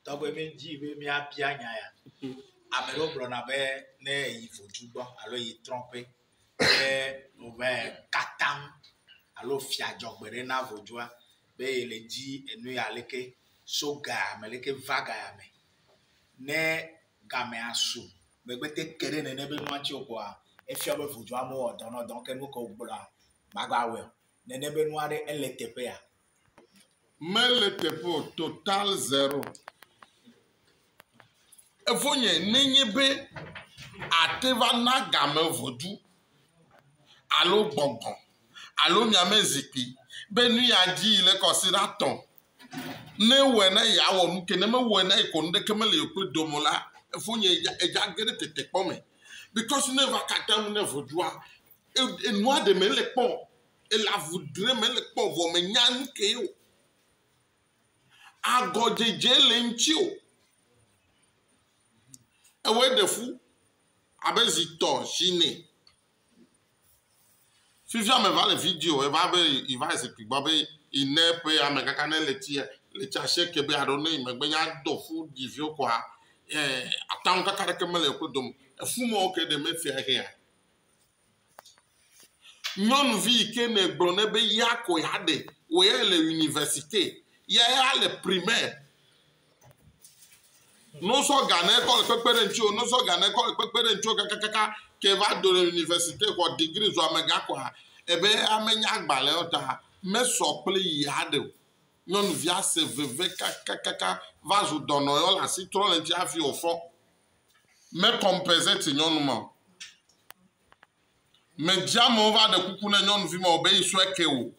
Tɔgbe mi dzi be mi abia nya ya. Ame ɖewo gblɔ na be ne yi vodu gbɔ alo yi trɔƒe be wòbe katam alo fia dzɔgbe ɖe na vodua be yi le dzi enu ya leke so ga ya me leke va ga ya me. Ne gamea so megbe te ke ɖe nene be nua tsi o kɔa efia be vodua me wɔ dɔ nɔ dɔ ke nu ke wogblɔa magba wɔe o. nene be nua ɖe ele teƒea? Mele teƒe o, total zero. Evo nye nenye be ate va na game ʋɔdu alo gbɔgbɔ alo miame zikpui be nu ya dzi yi le kɔsi ɖa tɔ. Ne ewɔe na yi awɔ nu ke ne mewɔe na yi ko nu ɖeke mele yewo kple dome la, evo nye edza ge ɖe tetekpɔ me. Bikɔs ne va kata nu ne ʋɔdua enua ɖe me le kpɔ ele avu ɖem me le kpɔ vɔ me nya nuke ye o agɔ dzedze le ŋti o ewɔe ɖe fu abe zi tɔ zi nɛ fifia me va le video eva be yi va zikpui gbɔ be yi ne ƒe ame kaka ne le tia le tsia se ke be aɖo ne yi megbe nya do fu yi viwo kɔa ɛɛ ataŋu kaka ɖeke me le woƒe dome efu mɔ ke ɖe me fia hea Nyɔnuvi yi ke ne gblɔ nɛ be ya ko ya ɖe wò ya le universite ya ya le primaire. No sɔ ga ne kɔ le kpekpe ɖe ŋuti o, no sɔ ga ne kɔ le kpekpe ɖe ŋuti o kakakaka ke va do le universite xɔ digri zɔ amega kɔa ebe ame nya agbalẽ o ta mesɔ kple yi aɖe o. Nyɔnuvia se veve kakakaka va zu dɔnɔ yɔ le asi trɔ le ŋuti hafi wòfɔ. me compensate nyɔnu ma o. Medzé amewo va ɖe kuku ne nyɔnuvi ma o be yi sɔe ke o.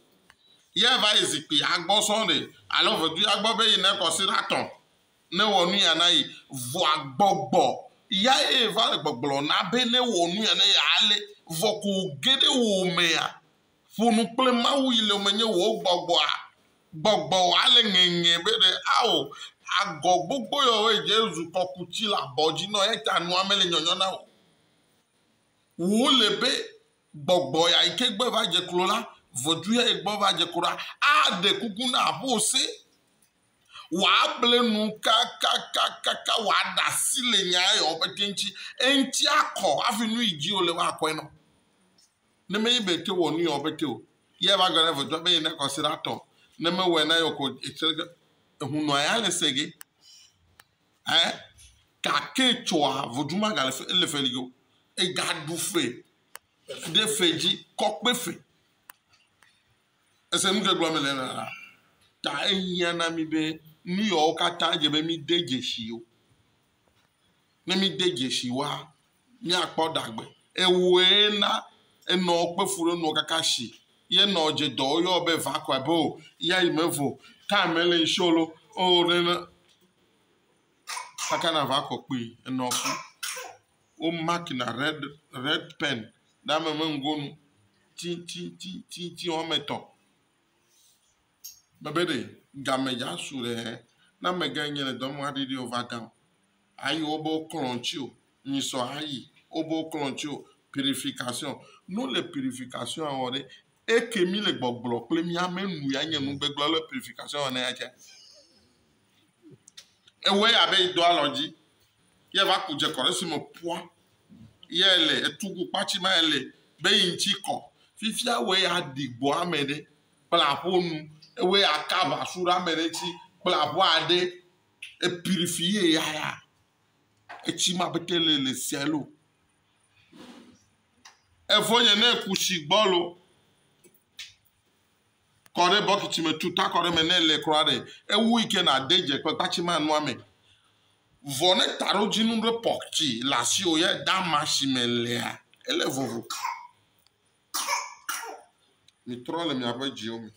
Yɛ va yi zikpi ya gbɔ sɔŋ ɖe alo vedu ya gbɔ be yi ne kɔsi ɖa tɔn ne wɔ nu ya na yi. Vɔa gbɔgbɔ ya ye va le gbɔgblɔ na be ne wɔ nu ya na yi ale. Vɔ ko wo ge ɖe wo mea Ƒo nu kple Mawu yi le menye wò gbɔgbɔa gbɔgbɔ wɔ ale ŋeŋe be ɖe ao agɔ gbogbo yɔ wɔ edze zu kɔkuti le abɔ dzi nɔ eya ta nua mele nyɔnyɔ na wò. Wò le be gbɔgbɔ ya yi ke gbe va dze klo la vɔdu ya yi gbɔ va dze klo la a ɖe kuku na aƒo ose wɔ a ble nu kakakakaka wɔ a ɖa si le nya eyɔ ƒe te ŋuti eŋuti a kɔ hafi nu yi dzi wò le wɔ a kɔe nɔ. Ne menyi be ete wɔ nu yɔ be te o, ye ava gbe ɖa ve dɔa be ye na kɔse ɖa tɔ. Ne me wɔe na yɔ ko etsɛ ɖe ehu nɔa ya le se ge. Ɛ ka ke tsɔa vodu ma gale fe ele fe li go. E ga ɖu fe ɖe fe dzi kɔkpe fe. Ese nu ke gblɔ me le na la. Ta ehia na mi be nu yɔ wo kata dze be mi de djeshi yo. Ne mi de djeshi wa míakpɔ ɖagbe. Ewɔe na enɔ kpe fu ɖe nɔ kaka shi ye nɔ dze dɔ yɔ be va kɔ abe o ya yi me vo time mele ŋshi o lo o ɖe ne kaka na va kɔ kpui enɔ fu wo mark na red red pen ɖe ame me ŋgonu tititititi wɔme etɔ̃. Mebe ɖe game dza su ɖe na mege nye le dɔm aɖi ɖi o va gã o. Ayi wobe klɔ ŋuti o, nyi sɔ ayi wobe klɔ ŋuti o. Purification. Ne wole purification wɔ ɖe, eke mi le gbɔgblɔ kple mi ame nu ya nye nugbegblɔ le purification wɔ ne ya tse. Ewɔe abe yi do alɔ dzi ye va ku dze kɔ ɖe si me pua ye le etugu kpatsi ma ye le be yi ŋuti kɔ. Fifia wɔ ye aɖi gbɔ ame ɖe. kple aƒewo nu. Ewoe aka aʋasu ɖe ame ɖe ŋuti kple aʋa ɖe. Epiɖi fi ye yaya. Etsi ma ƒete le le sia lo. Evɔ nye ne ku tsi gbɔ lo, kɔ ɖe bɔkiti me tu ta kɔ ɖe eme ne ele kura ɖe. Ewu yi ke na de dze kpekpa tsi ma nua me. Vɔ ne ta ɖo dzi nu ɖe pɔk tsi le asiwò ye da ma si me lea ele vovo. Mitrɔ le miaƒe dziwo me.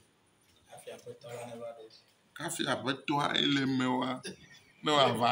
Hafi Aƒetɔa ye le eme wa ne wòava.